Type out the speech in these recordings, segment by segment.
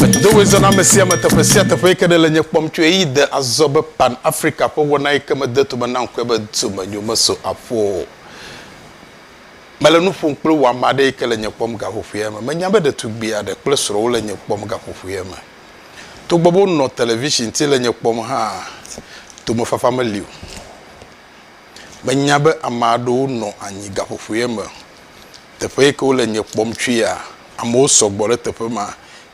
Medo ɣezɔna ame sia ame teƒe sia teƒe yi ke ɖe le nye kpɔm tso eyi de azɔ be Pan Afrika ƒe wɔna yi ke mede tome na ŋkɔe be Domenyo meso aƒo o. Mele nu ƒom kple wò ame aɖe yi ke le nye kpɔm gaƒoƒoea me. Menya be ɖetugbui aɖe kple srɔ̃ wole nye kpɔm gaƒoƒoea me. Togbɔ be wonɔ television ti le nye kpɔm hã, tomefafa meli o. Menya be ame aɖewo nɔ anyi gaƒoƒoea me Teƒe yi ke wole nye kpɔm tsoea, amewo sɔgbɔ ɖe teƒe ma.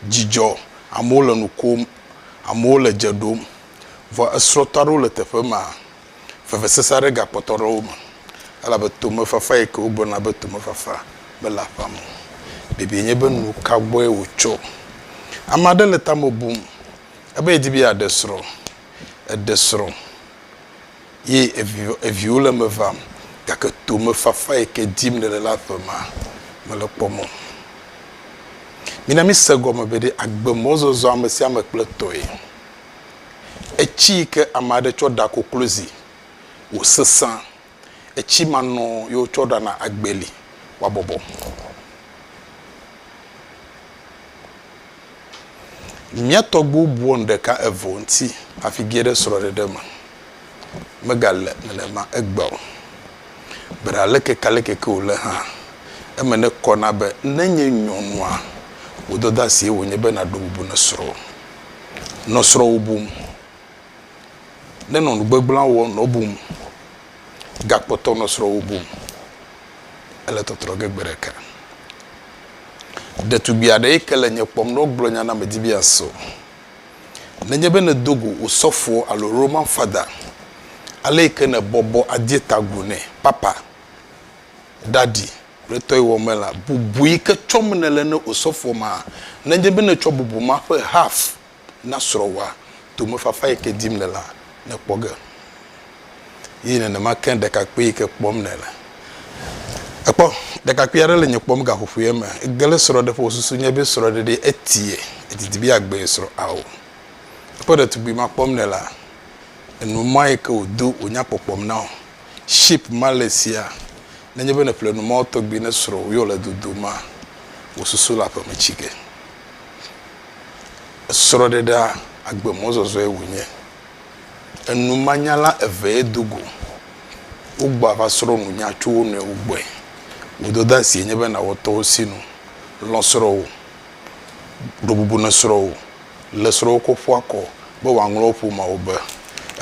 Dzidzɔ, amewo le nu kom, amewo le dze ɖom. Vɔ esrɔ̃tɔ aɖewo le teƒe ma. Vevesese aɖe gakpɔtɔ ɖe wo me elabe tomefafa yi ke wogblɔna be tomefafa mele aƒea me o. Biabia nye be nu ka gbɔe wòtso? Ame aɖe le tame bum ebe yedi be yeaɖe srɔ̃. Eɖe srɔ̃. Ye evi, eviwo le eme vam, gake tomefafa yi ke dim nèle la ƒe ma, mele kpɔ mɔ. Mina mise gɔme be ɖe agbe mɔzɔzɔ ame sia ame kple tɔe. Etsi yi ke ame aɖe tsɔ ɖa koklozi wòsesẽ, etsi ma nɔ ye wotsɔ ɖana agbeli wòabɔbɔ. Mía tɔgbuiwo bua nu ɖeka eve o ŋuti hafi ge ɖe srɔ̃ɖeɖe me. Megale nenema egbea o. Be ɖe alekeke-aleke ke wòle hã, eme nekɔ na be ne nye nyɔnua, wò dɔdeasie wònye be nàɖo bubu na srɔ̃wò. Nɔ srɔ̃wò bum. Nenɔ nu gbegblẽa wɔm nɔ bum. Gakpɔtɔ nɔ srɔ̃wò bum. ele tɔtrɔ ge gbe ɖeka. Ɖetugbui aɖe yi ke le nye kpɔm ne wogblɔ nya na medi be yeaso. Nenye be nèdo go osɔfo alo Roman Father, ale yi ke nèbɔbɔ ade ta agu nɛ, Papa, Daddy, kple tɔyiwɔ me la, bubu yi ke tsɔm nèle ne osɔfoa ma, nenye be nètsɔ bubu ma ƒe half na srɔ̃wòa tomefafa yi ke dim nèlea, nèkpɔ ge. Eye nenema ke ɖekakpui yi ke kpɔm nèle. Èkpɔ, ɖekakpui aɖe le nye kpɔm gaƒoƒoea me. Ege ɖe srɔ̃ɖeƒe wòsusu nye be srɔ̃ɖeɖee etie. Edidi be yeagbee srɔ̃. Ao, èkpɔ ɖetugbui ma kpɔm nèlea? Ènu mɔa yi ke wòdo wò nyakpɔkpɔm na wò. Ship ma le esia. Nenye be nèƒle nu mɔwo tɔgbi ne srɔ̃wò yɔ le dodoma, wò susu le aƒeme tsi ge. Srɔ̃ɖeɖea, agbemɔzɔzɔe wònye. Enumanyala evee do go. Wogbɔa va srɔ̃ nunya tso wo nɔewo gbɔe. Wò dɔdeasie nye be nàwɔ tɔwò sinu. Lɔ̃ srɔ̃wò. Ɖo bubu na srɔ̃wò. Le srɔ̃wò kɔ ƒu akɔ be wòaŋlɔ wò ƒomeawo be.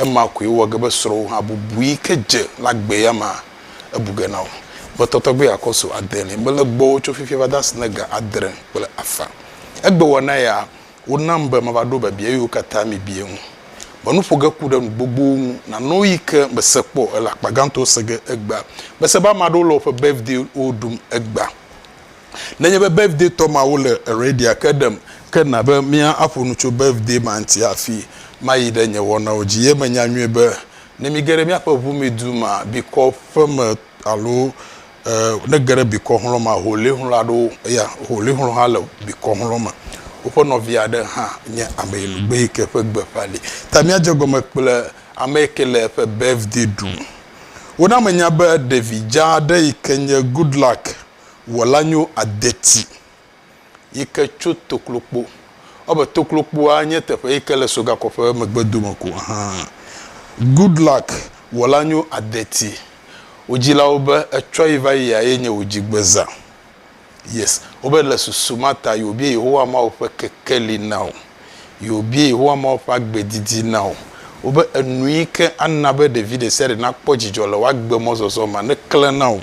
Ema koe wɔ ge be srɔ̃wò hã bubu yi ke dze le agbe ya mea, ebu ge na wò. Ƒetɔ tɔgbi akɔ so ade li mele gbɔwò tso fifia va de asi na ga adre kple afã. Egbewɔna ya wonam be mava ɖo biabia yiwo katã miebia ŋu. Menu ƒo ge ku ɖe nu gbogbowo ŋu nano eyi ke mese kpɔ ele akpa gãtɔ se ge egbea. Mese be ame aɖewo le woƒe birthday-wo ɖum egbea. Nenye be birthday-tɔ mawo le ready-a, ke ɖem ke na be míaƒo nu tso birthday ma ŋuti hafi mayi ɖe nye wɔnawo dzi. Ye menya nyuie be ne míege ɖe míaƒe ʋumedu ma bikɔ ƒe me alo ne ge ɖe bikɔ xlɔ̃ me aholi xlɔ̃ aɖewo eya aholi xlɔ̃ hã le bikɔ xlɔ̃ me. Woƒe nɔvi aɖe hã nye ameyinugbe yi ke ƒe gbeƒã li. Ta míadze egɔme kple ame yi ke le eƒe birthday ɖum. Wona menya be ɖevi dzaa aɖe yi ke nye Goodluck Wɔlanyo Adeti yi ke tso Toklokpo. Ewɔbe Toklokpoa nye teƒe yi ke le Sogakɔ ƒe megbedome ko hã. Goodluck wɔla nyo adeti wò dzilawo be etsɔ yi va yia ye nye wò dzigbezã. Yes. Wobe le susu ma ta yewòbie Yehowa Mawu ƒe kekeli na wò. Yewòbie Yehowa Mawu ƒe agbe didi na wò. Wobe enu yi ke ana be ɖevi ɖe sia ɖe nakpɔ dzidzɔ le wò agbe mɔzɔzɔ me neklẽ na wò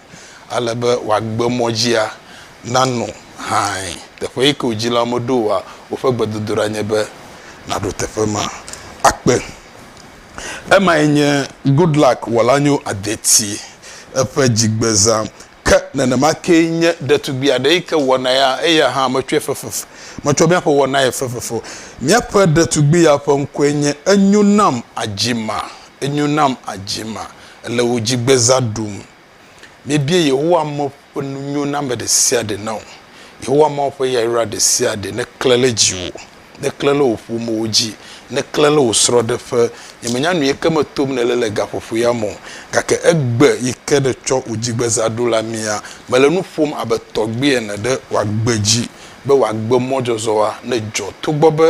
ale be wò agbe mɔ dzia nanɔ hãe. Teƒe yi ke wò dzilawo meɖo oa, woƒe gbedodoɖa nye be nàɖo teƒe ma akpe. Emae nye Goodluck Wɔlanyo Adeti eƒe dzigbezã. Ke nenema kee nye ɖetugbui aɖe yi ke wɔna ya, eya hã metsɔe fefef, metsɔ míaƒe wɔnae fefef o. Míaƒe ɖetugbui ya ƒe ŋkɔe nye Enyo Nam Adzima, Enyo Nam Adzima. Ele wò dzigbezã ɖum Mebia Yehowa Mawu ƒe nunyoname ɖe sia ɖe na wò. Yehowa Mawu ƒe yayra ɖe sia ɖe neklẽ ɖe dziwò, neklẽ ɖe wò ƒomewo dzi, neklẽ ɖe wò srɔ̃ɖeƒe. Nyemenya nu yike me tom nèle le gaƒoƒo ya me o, gake egbe yike nètsɔ wò dzigbezã ɖo la mea, mele nu ƒom abe tɔgbui ene ɖe wò agbe dzi be wò agbemɔzɔzɔa nedzɔ togbɔ be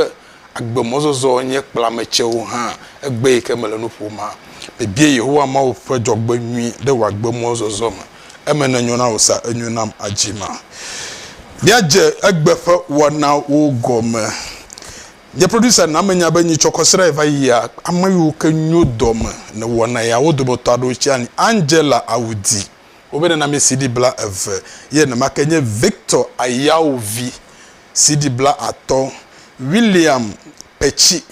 Agbemɔzɔzɔ nye kplametsɛwo hã egbe yi ke mele nu ƒom hã. Mebia Yehowa Mawu ƒe dzɔgbenyui ɖe wò agbemɔzɔzɔ me. Eme nenyo na wò sa enyo nam adzi ma. Míadze egbe ƒe wɔnawo gɔme. Nye producer na menya be nyi tsɔkɔ srã yi va yia, ame yiwo ke nyo dɔ me ne wɔna ya wo dometɔ aɖewo tsia ni, Angela Awudi, wobe nenamesi ɖi bla eve ye nenema ke nye Victor Ayawu vi. CD bla atɔ William Petsi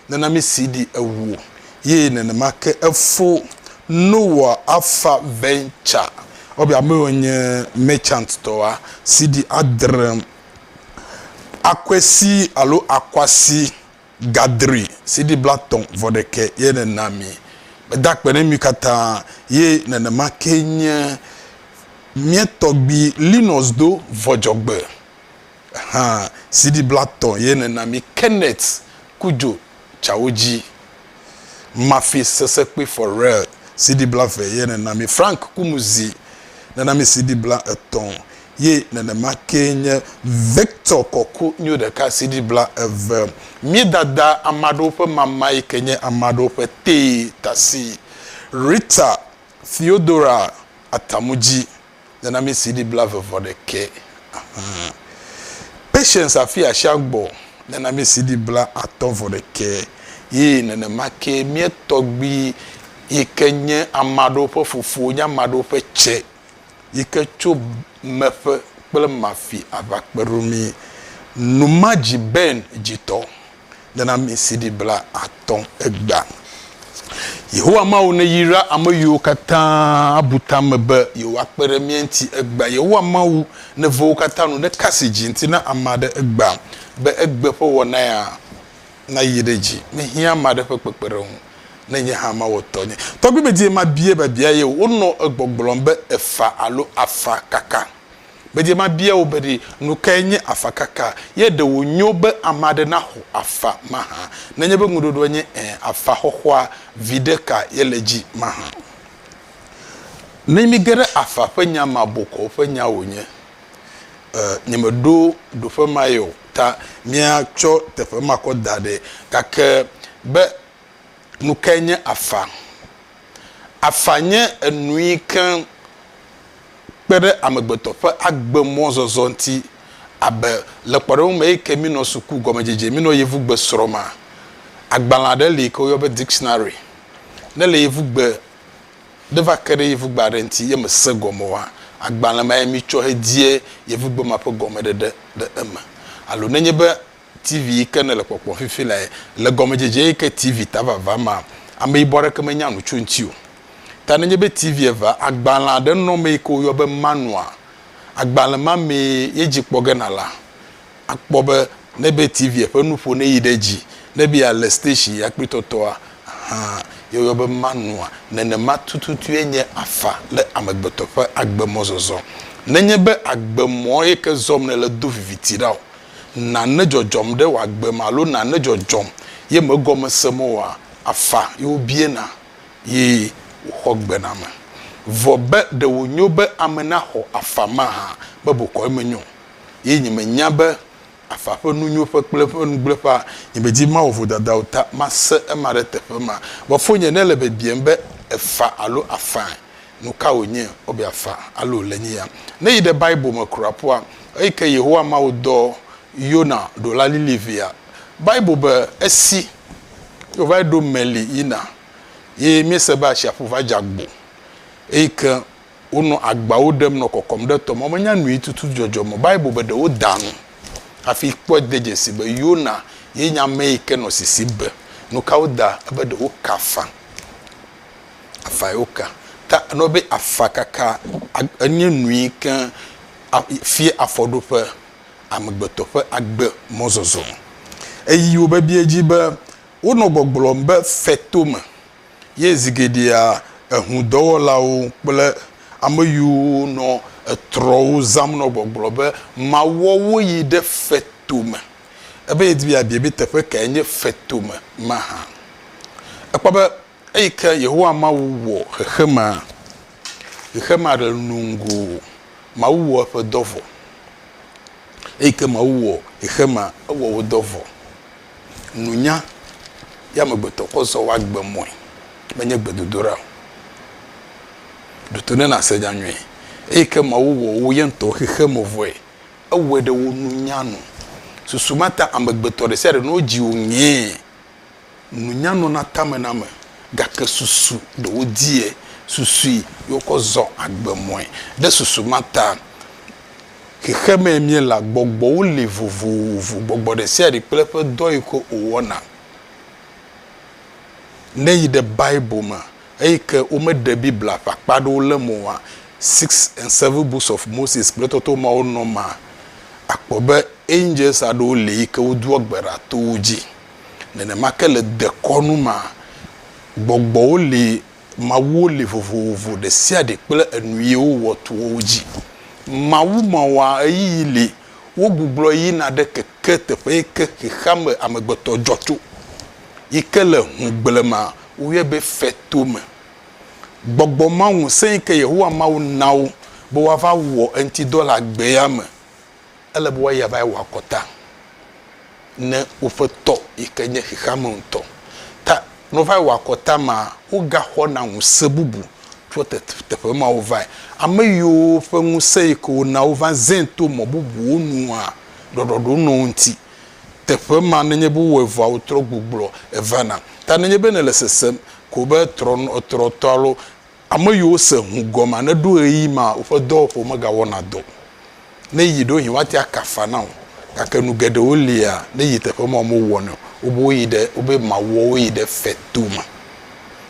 nana mi CD ewo ye nenema ke efo Noah Alpha Venture wɔbi ame yiwo nye Merchant tɔa CD adre Akwesi alo Akwasi. gadri sidi blatɔ̃ vɔ ɖekɛ ye nèna mí. Meda akpe ɖe mí katã ye nenema ke nye mía tɔgbi Linus do vɔ dzɔgbe hã sidi blatɔ̃ ye nèna mí Kenneth ku dzo tsawo dzi Mafi sese kpi for real CD bla ve ye nenami Frank kumuzi nenami CD bla etɔ ye nenema ke nye Victor kɔku nyo ɖeka CD bla eve mi dada amaɖewo ƒe mama yi ke nye amaɖewo ƒe tee tasi Rita Theodora Atamudzi Nenamisi ɖi blave vɔ ɖekɛ ahan. Patience afi asia gbɔ nenamisi ɖi bla atɔ vɔ ɖekɛ yi nenema ke mía tɔgbi yike nye amaɖewo ƒe fofo nye amaɖewo ƒe tse yike tso meƒe kple mafi ava kpeɖomi. Numadzi Ben dzitɔ. Nenɔamesiɖi blaatɔ̃ Egbea, Yehowa Mawu neyra ame yiwo katã abu ta me be yewoakpe ɖe mía ŋuti. Egbea, Yehowa Mawu neve wo katã nu ɖeka si dzi ŋuti na ame aɖe. Egbea, be egbe ƒe wɔna ya nayi ɖe edzi, mehiã ame aɖe ƒe kpekpeɖeŋu, ne nye hã mawɔ tɔnye. Tɔgbi medie mabiae babia ye o. Wonɔ egbɔgblɔm be efa alo afa kaka. Gbedie mabia wò be ɖe nukae nye afakaka, ye ɖe wònyo be ame aɖe naxɔ afa mahã? Nenye be ŋuɖoɖoa nye ẽ, afaxɔxɔa viɖe ka ye le edzi mahã? Ne mige ɖe afa ƒe nya mea, bokɔ ƒe nya wònye. E, nyemeɖo ɖoƒe mae o, ta míatsɔ teƒe ma kɔ da ɖɛ. Gake be Nu kae nye afa? Afa nye enu yi ke kpe ɖe amegbetɔ ƒe agbe mɔzɔzɔ ŋuti abe le kpɔɖeŋu me eyi ke mínɔ suku gɔmedzedze mínɔ yevugbe srɔ̃ma. Agbalẽ aɖe li yi ke woyɔna be dictionary. Ne le yevugbe ɖe va ke ɖe yevugbe aɖe ŋuti ye me se gɔme oa, agbalẽ mae mitsɔ he die yevugbe ma ƒe gɔmeɖeɖe le eme. Alo ne nye be. TV yi ke nèle kpɔkpɔm fifi lae le gɔmedzedze yi ke TV ta vava ma. Ame yibɔ aɖeke menya nu tso eŋuti o. Ta nenye be TV eva, agbalẽ aɖe nɔ eme yi ke woyɔna be manua. Agbalẽ ma mee ye dzi kpɔ ge nàle akpɔ be ne ebe TV ƒe nuƒo ne yi ɖe edzi, ne ebe yeale station ya kple tɔtɔa, ahan, ye woyɔ be manua. Nenema tututue nye afa le amegbetɔ ƒe agbe mɔzɔzɔ. Nenye be agbe mɔ yi ke zɔm nèle do viviti ɖa o, nane dzɔdzɔm ɖe wòagbe me alo nane dzɔdzɔm ye megɔme sem oa, afa ye wobiena ye wòxɔ gbename. Vɔ be ɖe wònyo be ame naxɔ afa mahã be bokɔe menyo o. Ye nyemenya be afa ƒe nunyoƒe kple eƒe nugblẽƒea, nyemedi mawɔ vodada o ta mase ema ɖe teƒe ma. Vɔ fonye nele biabiam be, Èfa alo afãe? Nuka wònye wobe afa alo wòle nyi ya? Ne yi ɖe Bible me kura ƒua, eyi ke Yehowa Mawu dɔ Yona ɖo la lili via. Bible be, Esi wòva ɖo meli yina ye míese be atsiaƒu va dze agbo, eyi ke wonɔ agbawo ɖem nɔ kɔkɔm ɖe tɔ me. Womenya nuyi tututu dzɔdzɔ me o. Bible be, Ɖe woda nu hafi kpɔe de dzesi be Yona ye nye ame yi ke nɔ sisi be. Nuka woda? Ebe ɖe woka afa. Afa yewo ka. Ta nɔ be afa kaka enye nui ke fia afɔɖoƒe amegbetɔ ƒe agbe mɔzɔzɔ. Eyi wo bebie dzi be wonɔ gbɔgblɔm be feto me ye zi geɖea eŋu dɔwɔlawo kple ame yiwo nɔ etrɔwo zãm nɔ gbɔgblɔ be mawɔ wo yi ɖe feto me. Ebe yedi be yeabia be teƒe kae nye feto me mahã. Ekpɔ be. Eyi ke Yehowa Mawu wɔ xexemea, xexe maɖe nuŋu o. Mawu wɔ eƒe dɔ vɔ. Eyi ke Mawu wɔ xexemea, ewɔ wo dɔ vɔ. Nunya ye amegbetɔ kɔ zɔ woa gbe mɔe, menye gbedodoɖa o. Ɖo to ne nàse nya nyuie. Eyi ke Mawu wɔ wo ye ŋutɔ xexeme vɔe, ewɔe ɖe wo nunya nu. Susu ma ta amegbetɔ ɖe sia ɖe, ne wodzi wò ŋee, nunya nɔna tame na ame gake susu ɖe wodiɛ susui ye wokɔ zɔ agbe mɔe. Ɖe susu ma ta xexemɛ míela gbɔgbɔwo li vovovo, gbɔgbɔ ɖesiaɖe kple eƒe dɔ yike wòwɔna. Ne yi ɖe Bible me eyike womeɖe Biblia ƒe akpa aɖewo le eme oa, Six and Seven Books of Moses kple tɔtɔ mawo nɔ mea, akpɔ be angels aɖewo li yike wodoa gbe ɖa to wo dzi. Nenema ke le dekɔnu mea, gbɔgbɔwo li, mawuwo li vovovo, ɖesiaɖe kple enu ye wowɔ to wo dzi. Mawu mawoa, ɣeyiɣi li, wogugblɔ yina ɖe keke teƒe yi ke xexeame amegbetɔ dzɔ tso, yi ke le ŋugble me woyɔe be feto me. Gbɔgbɔ ma ŋusẽ yi ke Yehowa Mawu na wo be woava wɔ eŋutidɔ le agbea me. Ele be woayi ava wɔ akɔta ne woƒe tɔ yi ke nye xexeame ŋutɔ. Ta ne wova wɔ akɔta ma, wogaxɔna ŋusẽ bubu tso teƒe mawo vae. Ame yiwo ƒe ŋusẽ yi ke wona wova zẽ to mɔ bubuwo nua, ɖɔɖɔɖo nɔ wo ŋuti. Teƒe ma, nenye be wowɔe vɔa, wotrɔ gbugblɔ evana. Ta nenye be nèle sesem ko be trɔtrɔtɔ alo Ame yiwo se ŋu gɔmea neɖo ɣeyiɣi ma woƒe dɔwɔƒewo megawɔna dɔ o. Ne yi ɖo yi woate aka afa na o. Gake nu geɖewo li ya ne yi teƒe mawo mewɔnɛ o. Wobe woyi ɖe, wobe mawɔ wo yi ɖe feto me.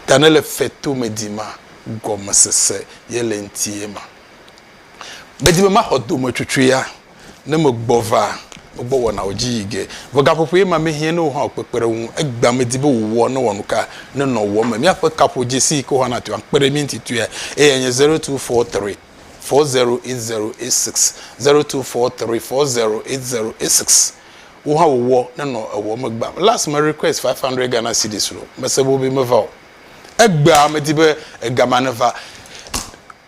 Ta ne le feto me di ma, gɔmesese ye le eŋti ye ma. Medi be maxɔ dometsotsoea Ne megbɔ va wogbɔ wɔnawo dzi yi ge. Vɔ gaƒoƒoe ma mehiã ne wò hã wò kpekpeɖeŋu. Egbea medi be wò wɔ ne wɔ nuka ne nɔ wɔ me. Míaƒe kaƒodzesi yi ke wò hã nàtɔe akpe ɖe mí ŋuti tɔea eye anye zero two four three four zero eight zero eight six zero two four three four zero eight zero eight six wò hã wò wɔ ne nɔ ewɔ me gbam. Last me request five hundred Ghana cedis lo mese be wobe meva o. Egbea medi be egama neva.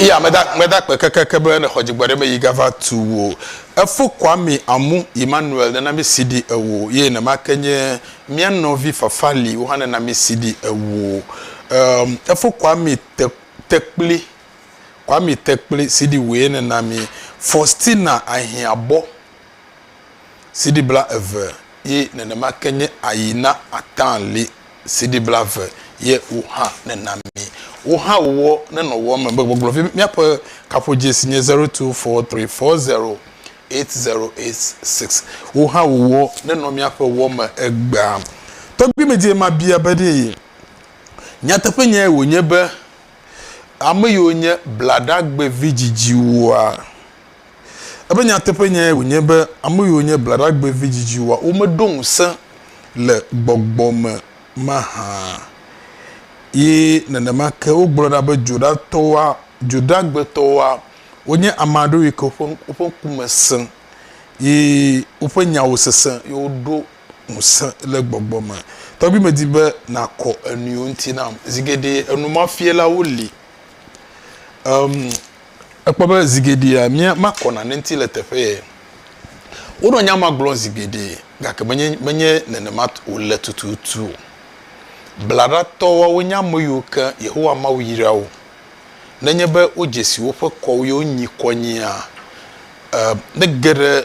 Iya meda meda kpe kekeke be ne xɔ dzigbɔ ɖe me yi gava tu wo. Efo Kwame Amu Emmanuel nena mi CD ewo ye ne ma ke nye mia nɔvi Fafali wo hã nena mi CD ewo. Um, efo Kwame te, Tekpli Kwame Tekpli CD woe nena mi. Faustina Ahiabɔ Sidi blaeve ye nenema ke nye ayi na ata li sidi blaeve ye wo hã nena mi. Wo hã wowɔ nenɔ wɔ me be gbɔgblɔ vi míaƒe kaƒodzi si nye 0243408086. Wo hã wowɔ nenɔ míaƒe wɔ me egbea. Tɔgbui medie mabia be ɖe nyateƒe nyae wònye be ame yiwo nye blaɖagbevi dzidziwoa? Eƒe nyateƒenyae wònye be ame yiwo nye blaɖagbe vidzidziwoa, womeɖo ŋusẽ le gbɔgbɔ me mahã. Ye nenema ke wogblɔ ɖa be dzoɖatɔwoa, dzoɖagbetɔwoa, wonye ame aɖewo yi ke woƒe, woƒe ŋku me sẽ, ye woƒe nyawo sesẽ, ye woɖo ŋusẽ le gbɔgbɔ me. Tɔgbi medi be nàkɔ enuiwo ŋuti nam. Zi geɖe enumafialawo li. Em, Ekpɔ be zi geɖea mía makɔ nane ŋuti le teƒe ye. Wonɔ nya ma gblɔm zi geɖe gake menye menye nenema wòle tututu o. Blaɖatɔ woawo nye ame yiwo ke Yehowa Mawu yra wo. Nenye be wodze si woƒe kɔwo ye wonyi kɔ nyia, e, mege ɖe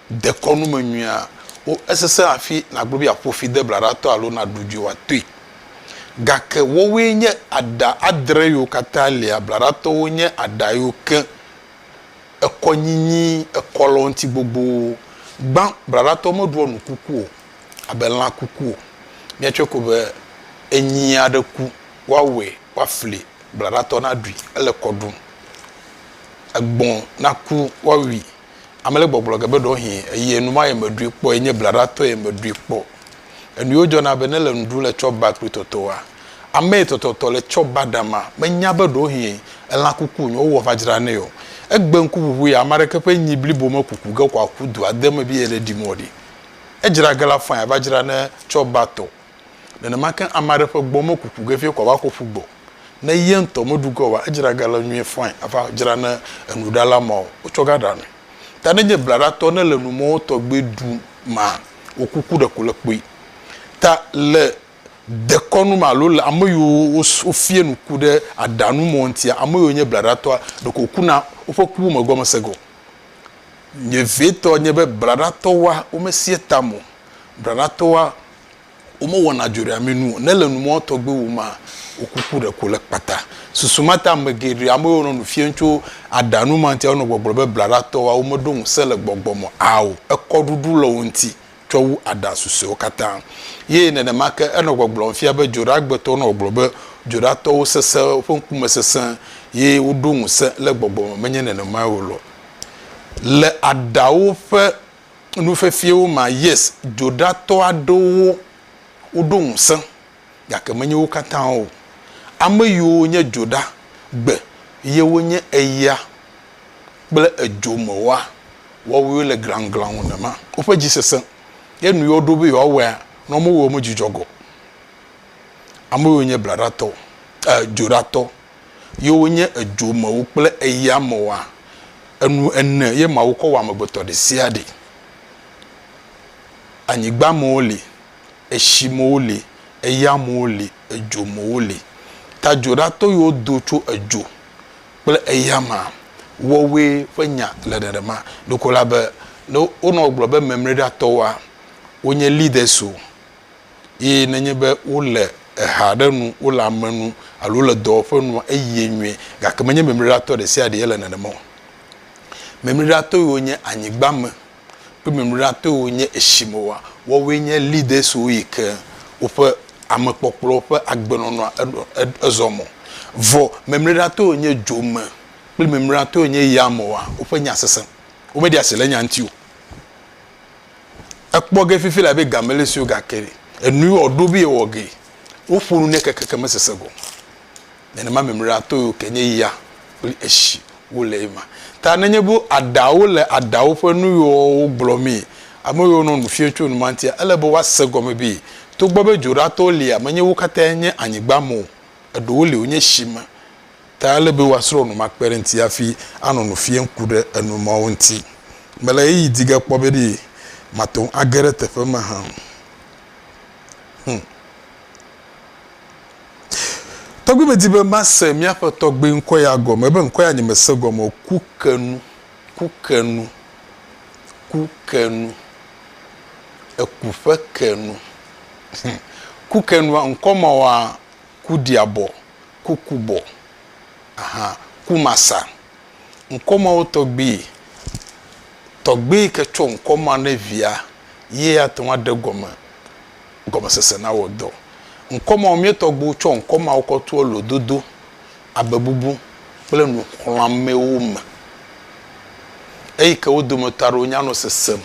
dekɔnu me nyuia wo esese hafi nàgblɔ be yeaƒo fi deblaɖatɔ alo naɖu dzoe wòatoe. Gake woawoe nye aɖa adre yiwo katã lia. Blaɖatɔwo nye aɖa yiwo ke ekɔ nyinyi ekɔlɔ̃ti gbogbowo. Gbã, blaɖatɔwo meɖua nu kuku o, abe lã kuku o. Míatsɔe ko be enyi aɖe ku, woawɔe woafli blaɖatɔ naɖui, ele kɔ ɖum. Egbɔ̃ naku, woawui. Ame le gbɔgblɔ ge be ɖewohĩ eyi enuma ye meɖui kpɔ ye nye blaɖatɔ ye meɖui kpɔ. Enuyiwo dzɔna be ne le nuɖu le tsɔ ba kpli tɔtɔa, ame yi tɔtɔtɔ le tsɔ ba ɖama menya be ɖewohĩ elã kuku nyi wowɔ va dzra nɛ o. Egbe ŋkuʋuʋu ya ame aɖeke ƒe nyi blibo mekuku ge kɔ aku dua de me be yeɖe ɖi mɔ ɖi. Edzra ge la fɔe ava dzra ne tsɔ ba tɔ. Nenema ke ame aɖe ƒe gbɔ mekuku ge vie kɔ va xɔ ƒu gbɔ ne ye ŋutɔ meɖu ge oa, edzra ga le nyuie fãi ava dzra ne enuɖala mawo wotsɔ ga ɖa nui. Ta ne nye blaɖatɔ ne le numɔwo tɔgbe ɖu ma, wò kuku ɖeko le kpui. Ta le dekɔnu me alo le ame yiwo wofia nu ku ɖe aɖa nu mɔ ŋutia, ame yiwo nye blaɖatɔa ɖeko woku na woƒe kuwo me gɔmesese ge o. Nye vevietɔ nye be blaɖatɔwoa womesia ta me o, blaɖatɔwoa womewɔna dzoɖeamee nu o, ne le numɔ̃ tɔgbe wum maa, wokuku ɖeko le kpata. Susu ma ta ame geɖe, ame yiwo nɔ nu fiɛm tso aɖaŋu ma ŋuti anɔ gbɔgblɔm be blaɖatɔwoa, womeɖo ŋusẽ le gbɔgbɔ me ao, ekɔɖuɖu le wo ŋuti tsɔ wu aɖaŋu susɔewo katã. Ye nenema ke enɔ gbɔgblɔm fia be dzoɖeagbetɔwo nɔ gbɔgblɔm be dzoɖeatɔwo sesẽ, woƒe ŋkume sesẽ, ye woɖo ŋusẽ le gbɔgbɔ me. Menye nenemae o loo. Le aɖaŋuwo ƒe Nu fefiewo ma, yes, dzoɖatɔ aɖewo woɖo ŋusẽ, gake menye wo katã o. Ame yiwo nye dzoɖa gbe ye wonye eya kple edzo me wɔa wɔwɔe le glanglaŋ nema. Woƒe dzi sesẽ ye nu yi woɖo be yewoawɔea, ne womewɔe o, medzudzɔ gɔ. Ame yiwo nye blaɖatɔ, eh, dzoɖatɔ ye wonye edzomewo kple eyamewoa? Enu ene ye Mawu kɔ wɔ amegbetɔ ɖesiaɖe. Anyigbamewo li, etsimewo li, eyamewo li, edzomewo li. Ta dzoɖatɔ yiwo do tso edzo kple eyamea wɔwoe ƒe nya le nenema. Ɖeko la be, ne wonɔ gblɔ be memreɖatɔwoa, wonye leaders o, Eye nenye be wole eha aɖe nu, wole ame nu alo wole dɔwɔƒe nua, eyie nyuie. Gake menye memliɖatɔ ɖe sia ɖee le nenema o. Memliɖatɔe wonye anyigba me kple memliɖatɔe wonye etsi me wa. Woawoe nye leaders wo yi ke woƒe amekpɔkplɔ ƒe agbenɔnɔa eɖɔ ed ezɔ mɔ. Vɔ memliɖatɔe wonye dzo me kple memliɖatɔe wonye ya me wa. Woƒe nya sesẽ. Womeɖia asi le nya ŋuti o. Ekpɔ ge fifi labe game le sue gake enu yi wòɖo be yewɔ ge, woƒo nu nɛ kekeke mesesẽ gɔme. Nenema mimlea to yewo ke nye ya kple etsi wole ema. Ta nenye be aɖawo le aɖawo ƒe nu yi wɔwɔwo gblɔmee, ame yiwo nɔ nu fiam tso enuma ŋutia, ele be woase gɔme be togbɔ be dzoɖatɔwo lia, menye wo katãe nye anyigba me o, eɖewo li wonye tsi me. ta ele be woasrɔ̃ nu makpe ɖe eŋuti hafi anɔ nu fiam ku ɖe enu mawo ŋuti. Mele ɣeyiɣi di ge kpɔ be ɖe mate ŋu age ɖe teƒe ma hã o. Hum. Tɔgbi medi be mase míaƒe tɔgbi ŋkɔ ya gɔme. Ebe ŋkɔ ya nyemese gɔme o. Ku ke nu. Ku ke nu. Ku ke nu. Eku ƒe ke nu. Hum. Ku ke nua, ŋkɔ mawoa, kuɖiabɔ, kukubɔ, aha, kumasa. Ŋkɔ mawo tɔgbi tɔgbi yi ke tsɔ ŋkɔ ma ne via ye ate ŋu aɖe gɔme gɔmesese na wɔ dɔ. Ŋkɔ mawo mía tɔgbiwo tsɔ ŋkɔ mawo kɔ toa lododo, abebubu kple nuxlɔ̃amee me eyi ke wo dometɔ aɖewo nya nɔ sesem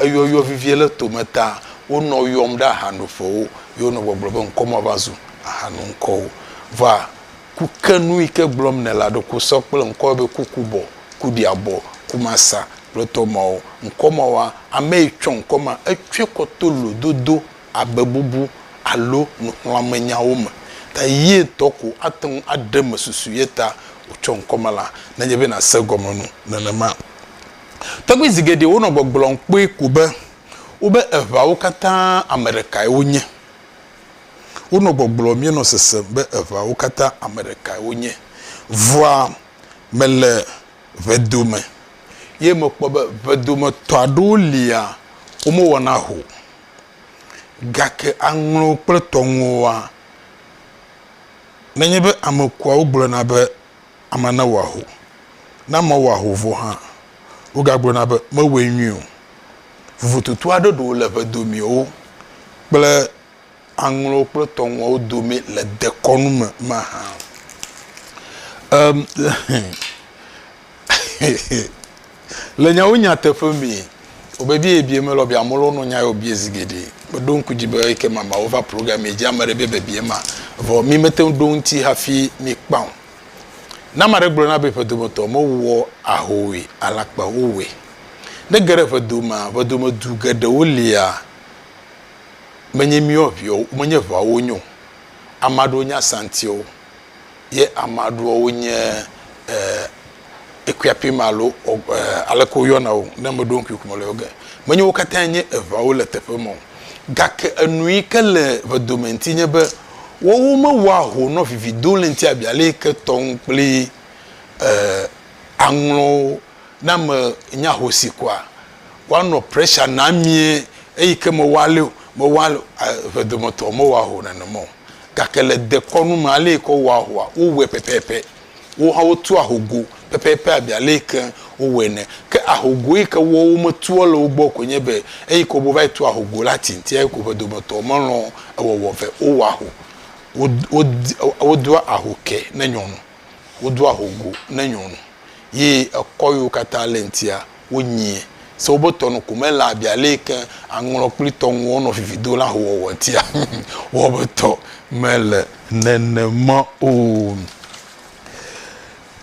Eyɔyɔ vivie le tome ta wonɔ yɔm ɖe ahanoƒewo ye wonɔ gbɔgblɔ be ŋkɔ mava zu ahanu ŋkɔwo. Vɔa ku ke nu yi ke gblɔm nèle aɖo ku sɔ kple ŋkɔwo be Kukubɔ, Kuɖiabɔ, Kumasa kple tɔ mawo. Ŋkɔ mawoa, ame yi tsɔ ŋkɔ ma etsɔe kɔ to lododo, abebubu alo nuxlɔ̃amenyawo me ta ye ŋutɔ ko ate ŋu aɖe eme susu ye ta wotsɔ ŋkɔ ma la nenye be nàse egɔme nu nenema. Tɔgbi zi geɖe wonɔ gbɔgblɔm kpɔe ko be wobe eʋawo katã ame ɖekae wonye. Wonɔ gbɔgblɔm míenɔ sesem be eʋawo katã ame ɖekae wonye. Vɔa mele ʋedome ye mekpɔ be ʋedometɔ aɖewo lia womewɔna ho o. Gake aŋlɔ kple tɔŋuwoa, nenye be ame kuawo gblɔna be Amea newɔ aho. Ne amea wɔ aho vɔ hã, wogagblɔna be, Mewɔe nyuie o. Vovototo aɖe ɖewo le ʋedomeawo kple aŋlɔwo kple tɔŋuawo dome le dekɔnu me mahã. Em, Le nyawo nyateƒe mee, wòbebie ebie melɔ be amewo lɔnɔ nya yewo bie zi geɖe. Meɖo ŋku dzi be eke mamea wova programmee dzi ame ɖe be bebie ma, vɔ mi mete ŋu ɖo eŋuti hafi mi kpã o. Ne ame aɖe gblɔ na be ƒedo me tɔ mewɔ ahoe alakpawo wɔe. Ne ge ɖe ƒedo mea, ƒedomedu geɖewo lia menye miwo aviɔwo menye ʋeawo nye o. Ame aɖewo nye asantiwo. ye amea ɖewo wonye eh, equipping alo eh, aleke woyɔna o ne meɖo ŋkui ƒome le wo ge. Menye wo katã nye eŋawo le teƒe me o. Gake enu yi ke le vedome ŋuti nye be woawo mewɔa ho nɔ vividoléŋti abe ale yi ke tɔŋ kple eh, aŋlɔwo na me nye ahosi koa. woanɔ pressure na mie eyi ke mewɔ ale o mewɔ ale ʋe dometɔ mewɔ ho nenema o gake le dekɔnu me ale yi ke wowɔ ahoa wowɔe pɛpɛpɛ wo hã wotu ahogo pɛpɛpɛ abe ale yi ke wowɔe ne ke ahogo yi ke wɔ wometua le wo gbɔ ko nye be eyi ke wova yi tu ahogo la tinti eyi ko ʋe dometɔ melɔ ewɔwɔ vɛ wowɔ aho wodoa aho ke ne nyɔnu Wodo ahogo ne nyɔnu ye ekɔ yiwo katã le ŋtia, wonyiɛ. Se wobe tɔnu ko me laa bia lée keŋ aŋlɔ kpli tɔnuwo nɔ vivi do le ahowɔwɔ ŋtia. Wobe tɔ me le nenema o.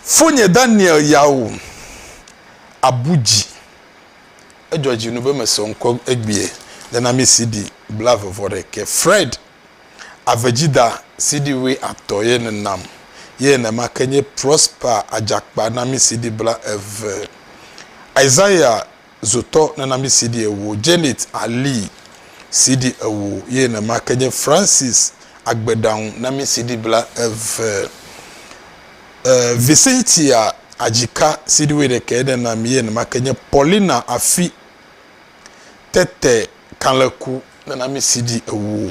Fonye Daniel ya o, abu dzi. Edzɔ dzi nu be mesɔ ŋkɔ egbea le na mi CD blavevɔɖekɛ. Fred. Avedzida CD wui atɔ ye ne nam ye nema ke nye Prosper Adjakpa na mi CD bla eve. Isaiah Zotɔ nena mi CD ewo. Janet Ali CD ewo ye nema ke nye Francis Agbeɖaŋu na mi CD bla eve. E, Vicentia Adzika CD wui ɖekɛ ye ne nam ye nema ke nye Paulina Afi Tete kalẽku nunamesiɖi ewo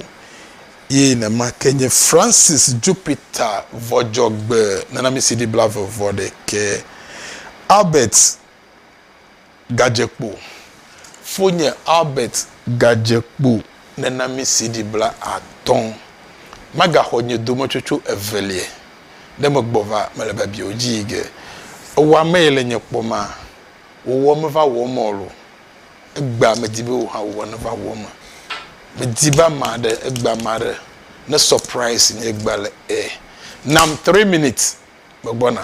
ye nema ke nye Francis Jupiter Vɔdzɔgbe nunamesiɖi blaeve-vɔ-ɖekɛ. Albert Gadzekpo, Fonye Albert Gadzekpo nunamesiɖi blaatɔ̃. Magaxɔ nye dometsotso evelie ɖe megbɔva mele Babia o dzi yi ge. Ewɔamee le nye kpɔma. Wòwɔ meva wɔ eme ɔl o. Egbea medi be wò hã wò hã neva wɔ eme. Medi be ame aɖe, egbea ame aɖe ne surprise nye egbea le ɛ. Nam three minutes megbɔna.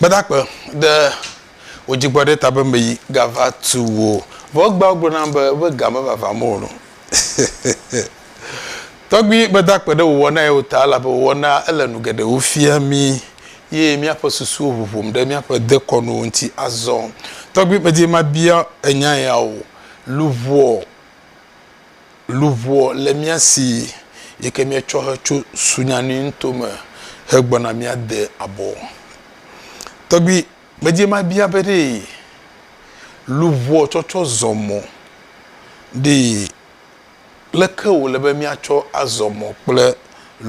Gbadagbe ɖe wò dzigbɔ ɖe ta be meyi gava tu wò. Vɔ egbea wogblɔ nam be woƒe ga mevavam o. Tɔgbui meda kpe ɖe wòwɔna ye o ta elabe wòwɔna ele nu geɖewo fia mí ye míaƒe susuwo ʋuʋum ɖe míaƒe dekɔnuwo ŋuti azɔ. Tɔgbui medi mabia enya ya o. Luʋɔ. Luʋɔ le mía si yike míetsɔ hetso sunyani nuto me hegbɔna míade abɔ. Tɔgbi medie mabia be ɖe luʋɔ tsɔtsɔ zɔ mɔ ɖe leke wòle be míatsɔ azɔ mɔ kple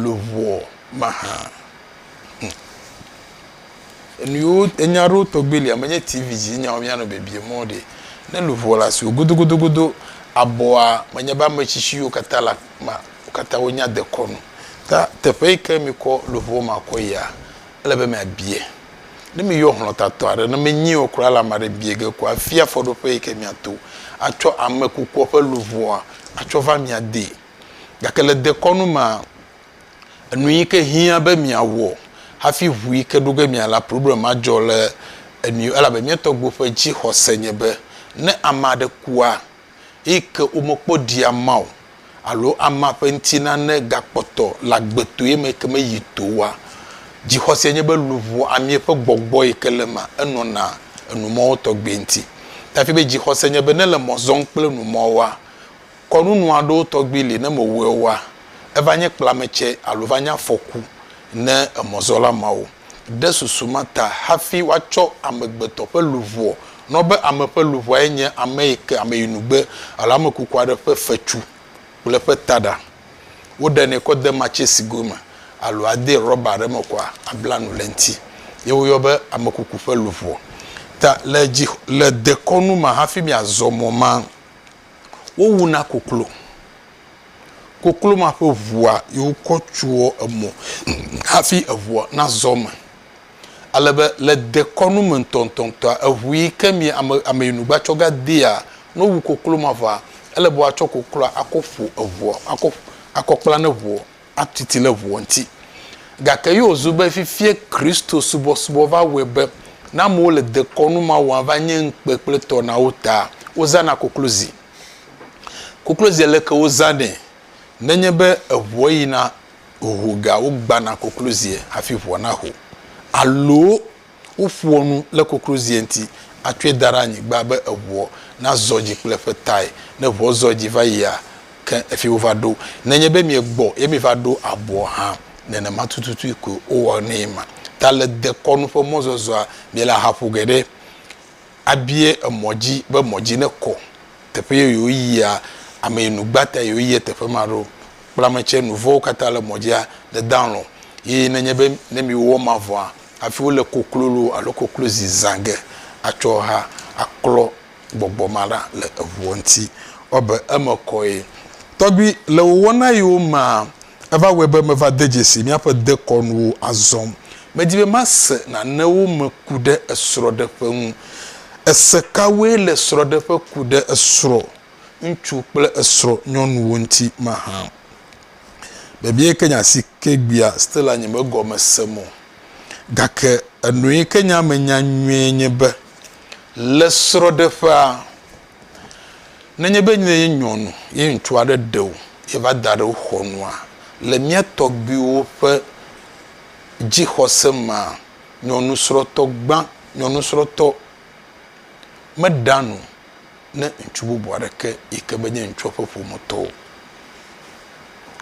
luʋɔ mahã? Hum. Enuyiwo enya aɖewo tɔgbi li ame nye TV dzi nyawo mianɔ bebie mɔ ɖe. Ne luʋɔ le asiwò godogodogodo abɔa menye be ame tsitsiwo katã le ma wo katã wonya dekɔnu. Ta teƒe yi ke mikɔ luʋɔ ma kɔ yia ele be miabie. Ne miyɔ hlɔtatɔ aɖe ne menyi o kura la ame aɖe bie ge ko afia afɔɖoƒe yi ke miato atsɔ ame kukua ƒe luʋɔa atsɔ va mia dee. Gake le dekɔnu mea. Enu yi ke hiã be miawɔ hafi ŋu yi ke ɖo ge miala problem adzɔ le enu elabe mía tɔgbuiwo ƒe dzixɔse nye be ne ame aɖe kua eyi ke womekpɔ ɖi amea o alo amea ƒe ŋuti nane gakpɔtɔ le agbetoe me yi ke meyi to oa, dzixɔse nye be luʋɔ amee ƒe gbɔgbɔ yi ke le emea enɔna enumɔwo tɔgbi ŋuti. Tafi be dzixɔse nye be ne le mɔ zɔm kple numɔwoa, Kɔnunu aɖewo tɔgbi li ne mewɔe oa, eva nye kplametsɛ alo va nye afɔku ne emɔzɔla mawo. Ɖe susu ma ta hafi woatsɔ amegbetɔ ƒe luʋɔ nɔ be ame ƒe luʋɔae nye ame yi ke ameyinugbe alo ame kuku aɖe ƒe fetsu kple eƒe taɖa. Woɖenɛ kɔ de matsesigo me alo adee rɔba aɖe me kɔa abla nu le eŋti ye woyɔ be ame kuku ƒe luʋɔ. Ta le dzi le dekɔnu ma hafi miazɔ mɔ ma. wowuna koklo. Koklo ma ƒe ŋua yi wokɔ tsoa emɔ hafi eŋua nazɔ eme. Ale be le dekɔnu me ŋutɔŋutɔa, eŋu yi ke mi ame ameyinugba tsɔ va dea, ne wowu koklo ma vɔa, ele be woatsɔ kokloa akɔ ƒo eŋua, akɔ akɔ kpla ne ŋua. atu ti le ʋua ŋuti. Gake ye wòzu be fifia Kristo subɔsubɔ va wɔe be ne amewo le dekɔnu ma wɔm va nye ŋukpe kple tɔ na wo taa, wozãna koklozi. Koklozia le ke wozãnɛ? Nenye be eʋua yina hoho gea, wogbana koklozia hafi ʋua naho. Alo. Woƒoa nu le koklozie ŋuti atsɔe da ɖe anyigba be eŋua nazɔ dzi kple eƒe tae. Ne ŋua zɔ dzi va yia, ke efie wova ɖo. Nenye be miegbɔ ye miva ɖo abɔ hã, nenema tututue koe wowɔnɛ ma. Ta le dekɔnu ƒe mɔzɔzɔa, miele ahaƒo geɖe abie emɔ dzi be mɔ dzi nekɔ. Teƒe ye yewoyia, ame yi nu gbã ta yewoyia teƒe ma ɖo. Kple ame tsɛ, nu vɔ̃wo katã le mɔ dzia, nedalɔ̃. Ye nenye be ne miwɔ ma vɔa, Hafi wole koklolo alo koklozi zã ge atsɔ ha aklɔ gbɔgbɔ ma ɖa le eŋuɔ ŋti. Woabe eme kɔe. Tɔgbi, le wò wɔna yiwo mea, eva wɔe be meva de dzesi míaƒe dekɔnuwo azɔ. Medi be mase nanewo me ku ɖe esrɔ̃ɖeƒe ŋu. Ese kawoe le srɔ̃ɖeƒe ku ɖe esrɔ̃ ŋutsu kple esrɔ̃ nyɔnuwo ŋti mahã? Vevie ke nya si ke gbea Stella nye megɔme sem o. Gake enue ke nya menya nyuie nye be le srɔ̃ɖeƒea, nenye be nye nyɔnu ye ŋutsu aɖe ɖe wò ye va da ɖe wò xɔ nua, le mía tɔgbuiwo ƒe dzixɔse mea, nyɔnusrɔ̃tɔ gbã, nyɔnusrɔ̃tɔ meɖea nu ne ŋutsu bubu aɖeke yi ke menye ŋutsua ƒe ƒometɔ o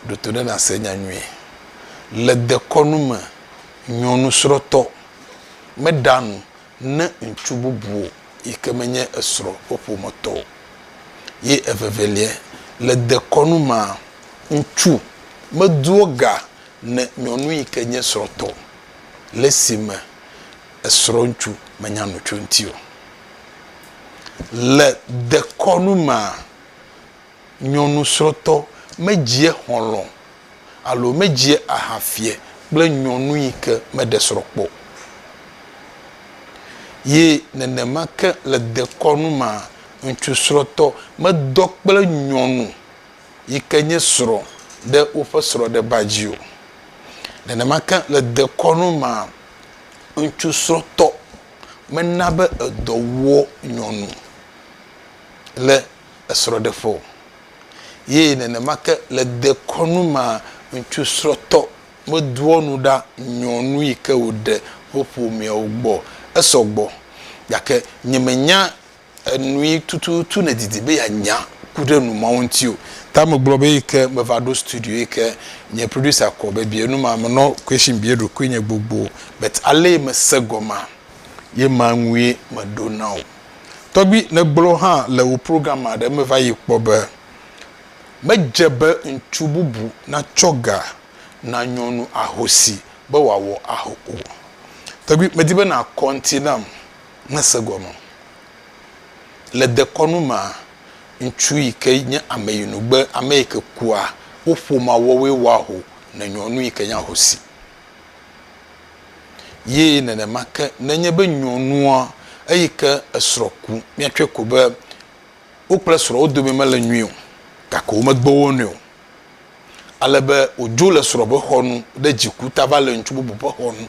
ɖo to ɖe nàse nya nyuie. Le dekɔnu me, nyɔnusrɔ̃tɔ meɖea nu ne ŋutsu bubu yi ke menye esrɔ̃ ƒe ƒometɔ o. Ye eveveliae, le dekɔnu mea, ŋutsu medoa ga ne nyɔnu yi ke nye srɔ̃tɔ le esime esrɔ̃ ŋutsu menya nu tso eŋuti o. Le dekɔnu mea, nyɔnusrɔ̃tɔ medzia xɔlɔ̃ alo medzia aha fiɛ kple nyɔnu yi ke meɖe srɔ̃ kpɔ o. Ye nenema ke le dekɔnu mea, ŋutsusrɔ̃tɔ medɔ kple nyɔnu yi ke nye srɔ̃ ɖe woƒe srɔ̃ɖeba dzi o. Nenema ke le dekɔnu mea, ŋutsusrɔ̃tɔ. mena be edɔ wɔ nyɔnu le esrɔ̃ɖeƒe o. Ye nenema ke le dekɔnu mea, ŋutsu srɔ̃tɔ medoa nu ɖa nyɔnu yi ke wòɖe woƒomeawo gbɔ o. Esɔ gbɔ. Gake nyemenya Enui tututu nèdidi be yeanya ku ɖe nu mawo ŋuti o. Ta megblɔ be eyi ke meva ɖo studio yi ke nye producer kɔ be bia nu ma, menɔ question bia eɖokui nye gbogbo but alee mese gɔmea, ye ma ŋue meɖo na wò. Tɔgbui, nègblɔ hã le wò program aɖe me va yi kpɔ be, Medze be ŋutsu bubu natsɔ ga na nyɔnu ahosi be wòawɔ aho o. Tɔgbui, medi be nàkɔ ŋuti nam. mese gɔme o. Le dekɔnu mea, ŋutsu yi ke nye ameyinugbe, ame yi ke kua, wo ƒomea woawoe wɔa aho ne nyɔnu yi ke nye ahosi. Ye nenema ke nenye be nyɔnua eyi ke esrɔ̃ ku, míatsɔe ko be wo kple srɔ̃ wo dome mele nyui o gake womegbe wo nɛ o. ale be wòdzo le srɔ̃ ƒe xɔ nu ɖe dziku ta va le ŋutsu bubu ƒe xɔ nu.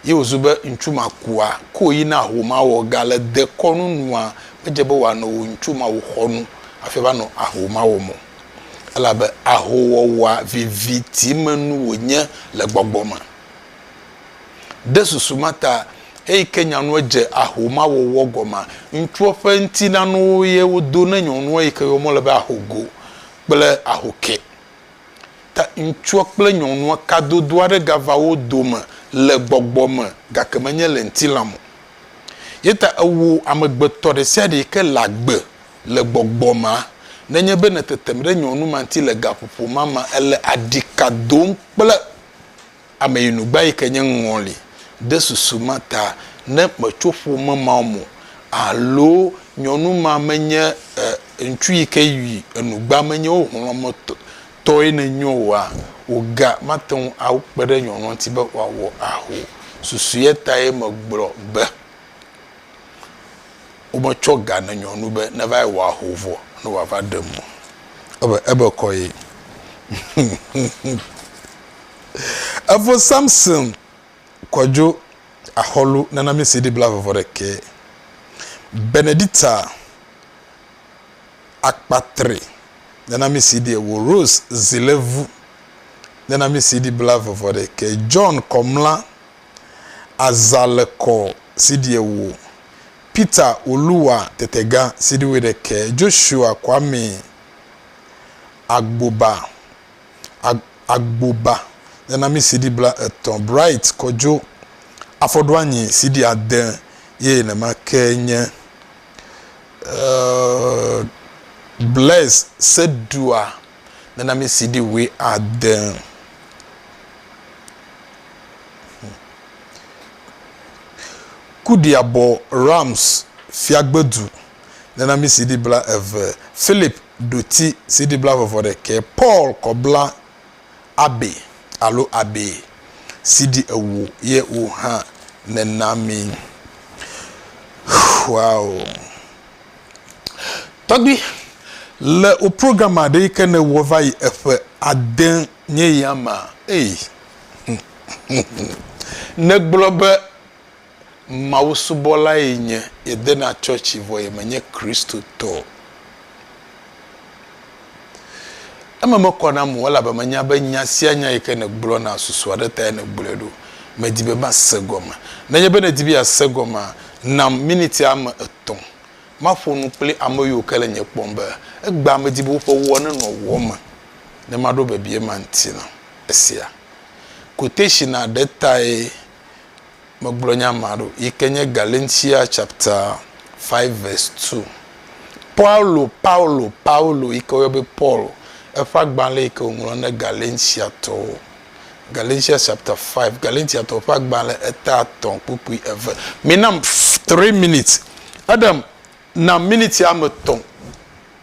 Ye wòzu be ŋutsu ma kua, ke wòyi na ho ma wɔ ga le dekɔnu nua, medze be wòanɔ wò ŋutsu ma wò xɔ nu hafi ava nɔ aho ma wɔm o. Elabe aho wɔwɔa viviti me nu wònye le gbɔgbɔ me. Ɖe susu ma ta, eyi ke nyanua dze aho ma wɔwɔ gɔmea, ŋutsua ƒe ŋutilãnuwo ye wodo ne nyɔnua yi ke yɔm wole be aho go. kple ahokɛ. Ta ŋutsua kple nyɔnua kadodo aɖe gava wo dome le gbɔgbɔ me gake menye le ŋutilã me o. Ye ta ewɔ amegbetɔ ɖe sia ɖe yi ke le agbe le gbɔgbɔ mea, nenye be nètetem ɖe nyɔnu ma ŋuti le gaƒoƒo ma mea, èle aɖi ka dom kple. Ameyinugba yi ke nye ŋɔli de susu ma ta, ne metso ƒome ma me o alo nyɔnu ma menye ŋutsu yi ke yi enugba menye wo hlɔ̃ me tɔe nenye oa, woga mate ŋu akpe ɖe nyɔnua ŋuti be wòawɔ aho o. Susu ye tae megblɔ be wometsɔ ga ne nyɔnu be neva yi wɔ aho vɔ ne wòava ɖem o. Ebe, ebe kɔ ye. Evo Samson kɔdjo axɔlu nana mi CD bla vɔvɔ ɖekɛ. Benedicta akpatre nana mi CD ewo. Rose zilevu nana mi CD bla vɔvɔ ɖekɛ. John kɔmla aza le kɔ CD ewo. Peter oluwa tetega CD we ɖekɛ. Joshua kwame agboba. Agboba nana mí CD bla etɔ̃, Bright Kojo afɔɖoanyi CD ade ye nenema ke nye uh, Blaise Sedua nana mí CD wui ade. Kudiabɔ Rams Fiagbedu nana mí CD bla eve, Philip ɖoti CD blaeve-vɔ ɖekɛ Paul kɔ bla Abe alo Abe CD ewo ye wo hã nena mi. Wow. Tɔgbi, le wo program aɖe yi ke ne wɔ va yi eƒe ade nye ya ma, ey, ne gblɔ be Mawusubɔlae nye ye dena tsɔtsi vɔ ye menye Kristotɔ o. Eme mekɔ nam o elabe menya be nya sia nya yi ke nègblɔna susu aɖe tae nègblɔe ɖo. Medi be mase gɔme. Nenye be nèdi be yease gɔmea, nam miniti ame etɔ̃ maƒo nu kple ame yiwo ke le nye kpɔm be egbea medi be woƒe wɔ nenɔ wɔ me ne maɖo bebie ma ŋuti na. Esia koteshi na ɖe tae. Megblɔ nya ma ɖo yi ke nye Galentia chapta 5 vɛs 2. Paulo, Paulo, Paulo yi ke woyɔ be Paul, eƒe agbalẽ yi ke wòŋlɔ ne Galentiatɔwo. Galentia chapta 5, Galentiatɔwo ƒe agbalẽ eta atɔ̃ kpukpui eve. Mina three minutes. Eɖem, na miniti ame tɔ̃.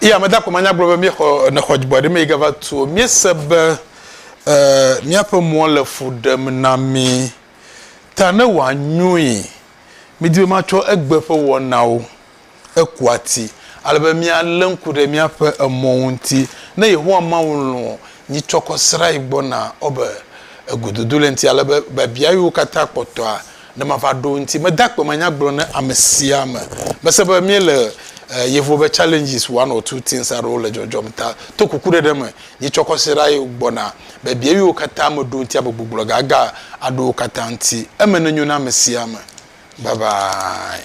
Iya meda ko manya gblɔ be míexɔ nexɔ dzigbɔ ɖe mei gava tu o. Míese be e míaƒe mɔ le fu ɖem na mí ta ne wòanyoe mídi be matsɔ egbe ƒe wɔnawo eku ati ale be míalé ŋku ɖe míaƒe emɔ ŋuti. Ne Yehowa Mawu lɔ̃ nyitsɔkɔsrae gbɔna ɔ be egododo le ŋuti ale be biabiawo katã kpɔtɔa Ne mava ɖo ŋuti, mede akpe manyagblɔ ne ame sia ame. Mese be míele Yevu be Challenges One or Two Things aɖewo le dzɔdzɔm ta. To kukuɖeɖe me, nyitsɔ kɔsiɖa ye gbɔna. Biabiawiwo katã meɖo ŋuti amegbugbɔ gaga aɖo wo katã ŋuti. Eme nenyo na ame sia ame. Bye bye.